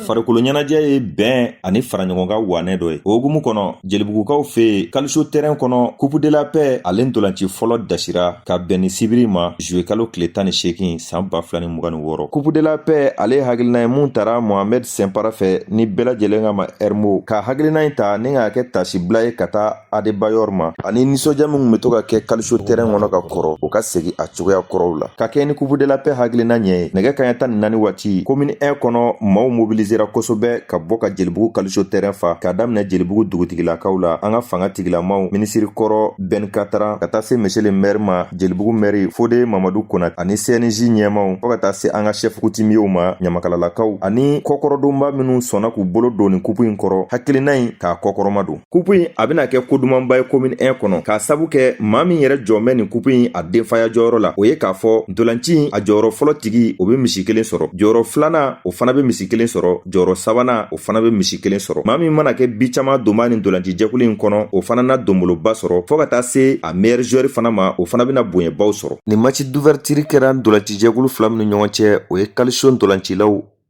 farikolo ɲɛnajɛ ye bɛn ani faraɲɔgɔnkan wanɛ dɔ ye o hukumu kɔnɔ jelibugukaw fɛ yen kaliso tɛrɛn kɔnɔ kupu de la pɛ ale ntolanci fɔlɔ dasira ka bɛn nin sibiri ma zuye kalo tile tan ni seegin san ba fila ni mugan ni wɔɔrɔ kupu de la pɛ ale hakilina ye mun tara mohamɛd sinpara fɛ ni bɛɛ lajɛlen k'a ma ɛrimo ka hakilina in ta ni k'a kɛ taasibila ye ka taa Adebayor ma ani nisɔndiya min bɛ to ka kɛ kaliso terɛn kɔnɔ ka kɔrɔ o ka segin a cogoya kɔrɔw la ka kɛɲɛ ni kupu de la pɛ hakilina ɲɛ ye nɛgɛ kan ɲɛ tan ni naani waati komini 1 kɔnɔ maaw mobilisera kosɛbɛ ka bɔ ka jelibugu kaliso terɛn fa ka daminɛ jelibugu dugutigilakaw la an ka fanga tigilamaw minisiri kɔrɔ bɛn katara ka taa se monsieur le maire ma jelibugu mɛri fode mamadu konate ani cnj ɲɛmaw fɔɔ ka taa se an ka sɛfu kutumiyew ma ɲamakalalakaw ani kɔkɔrɔdonbaa minw sɔnna k'u bolo don nin kupu in kɔrɔ hakilina in k'a kɔkɔrɔmadon kupu in a bɛna kɛ ko dumanba ye komini 1 kɔnɔ k'a sabu kɛ maa min yɛrɛ jɔlen bɛ nin kupu in a denfaya jɔyɔrɔ la o ye k'a fɔ ntolanci in a jɔyɔrɔ fɔlɔ tigi o bɛ misi kelen sɔrɔ jɔyɔrɔ filanan o fana bɛ misi kelen sɔrɔ jɔyɔrɔ sabanan o fana bɛ misi kelen sɔrɔ maa min mana kɛ bi caman donbaa nin ntolanci jɛkulu in kɔnɔ o fana na donboloba sɔrɔ fɔɔ ka taa se a meilleur joueur fana ma o fana bɛna bonyabaw sɔrɔ nin match d'ouverture kɛra ntolanci jɛkulu fila minnu ɲɔgɔn cɛ o ye calcio ntolancilaw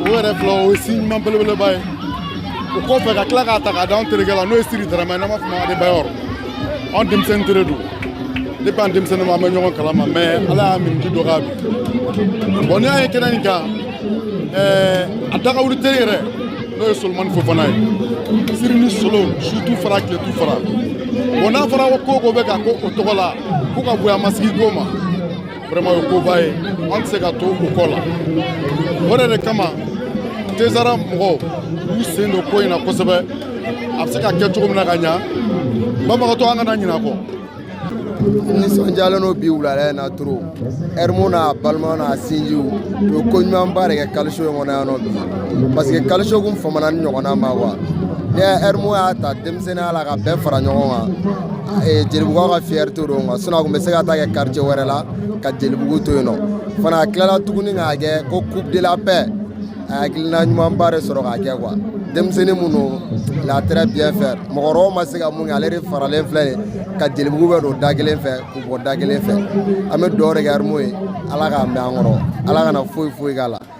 o yɛrɛ filɛ o ye si ɲuman belebeleba ye o kɔfɛ ka tila k'a ta k'a d'an terikɛ la n'o ye siri darama ye n'an b'a fɔ a ma adebayɔrɔ anw denmisɛnnin teri don depuis an denmisɛnnin ma an bɛ ɲɔgɔn kalama mais ala y'a miniti dɔgɔya bi bɔn n'i y'a ye kɛnɛ in kan eh, a dagawuli teri yɛrɛ n'o ye solomani fofana ye siri ni solo su t'u fara tile t'u fara bɔn n'a fɔra ko ko bɛ ka k'o tɔgɔ la ko ka bonya masegin ko ma vraiment o koba ye an tɛ se ka to o kɔ la o de de kama tezara mɔgɔw y'u sen don ko in na kosɛbɛ a bɛ se ka kɛ cogo min na ka ɲa bamakɔtɔ an kana ɲinɛ kɔ nisɔndiyalen don bi wuladɛ in na trop ɛrimu n'a balimaw n'a sinjiw u ye ko ɲumanba de kɛ kaliso in kɔnɔ yan nɔ bi parce que kaliso kun famana nin ɲɔgɔnna ma wa ni ɛrimu y'a ta sen la ka bɛɛ fara ɲɔgɔn kan jelibugu ka fierté don sinon a tun bɛ se ka taa kɛ karicɛ wɛrɛ la ka jelibugu to yen nɔ fana a tilala tuguni k'a kɛ ko kupu de la pɛ a hakilina ɲumanba de sɔrɔ k'a kɛ quoi denmisɛnnin minnu latrɛ bi fɛ mɔgɔ ma se ka mun kɛ ale de faralen filɛ ye ka jelibugu bɛɛ don da kelen fɛ k'u bɔ da kelen fɛ an bɛ duwaw de kɛ ɛrimu ye ala k'a mɛn an kɔrɔ ala kana foyi foyi k'a la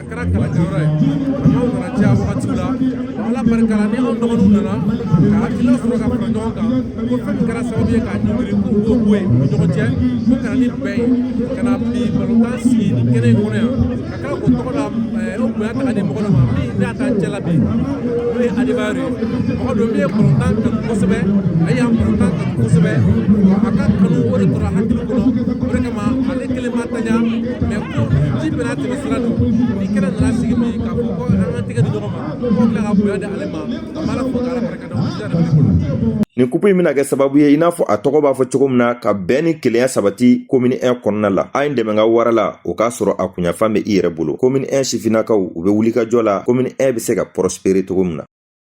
a kɛra kalankɛyɔrɔ ye kalandenw nana caya wagati la ala barika la ni anw dɔgɔninw nana ka hakilina sɔrɔ ka fara ɲɔgɔn kan ko fɛn min kɛra sababu ye k'a ɲɔngiri k'u k'o bɔ yen u ni ɲɔgɔn cɛ ko ka na ni bɛn ye ka na bi balontan sigi nin kɛnɛ in kɔnɔ yan ka kila k'o tɔgɔ la o bonya ta ka di mɔgɔ dɔ ma min n'a t'an cɛ la bi n'o ye Adebayor ye mɔgɔ dɔ min ye balontan kanu kosɛbɛ a ye balontan kanu kosɛbɛ wa a ka kanu o de tora hakili kɔnɔ o de kama ale kelen ma tanya mais ko ji bɛna bɛ sira don ni kɛnɛ nana sigi min k'a fɔ ko an ka tɛgɛ di ɲɔgɔn ma ko tila ka bonya di ale ma ka baara fɔ ka ala barika da o sira de bɛ ne bolo nin kupu in bɛna kɛ sababu ye i n'a fɔ a tɔgɔ b'a fɔ cogo min na ka bɛn ni kelenya sabati komini 1 kɔnɔna la a ye n dɛmɛ n ka wara la o k'a sɔrɔ a kunyanfan bɛ i yɛrɛ bolo komini 1 sifinnakaw u bɛ wulikajɔ la komini 1 bɛ se ka prospérer cogo min na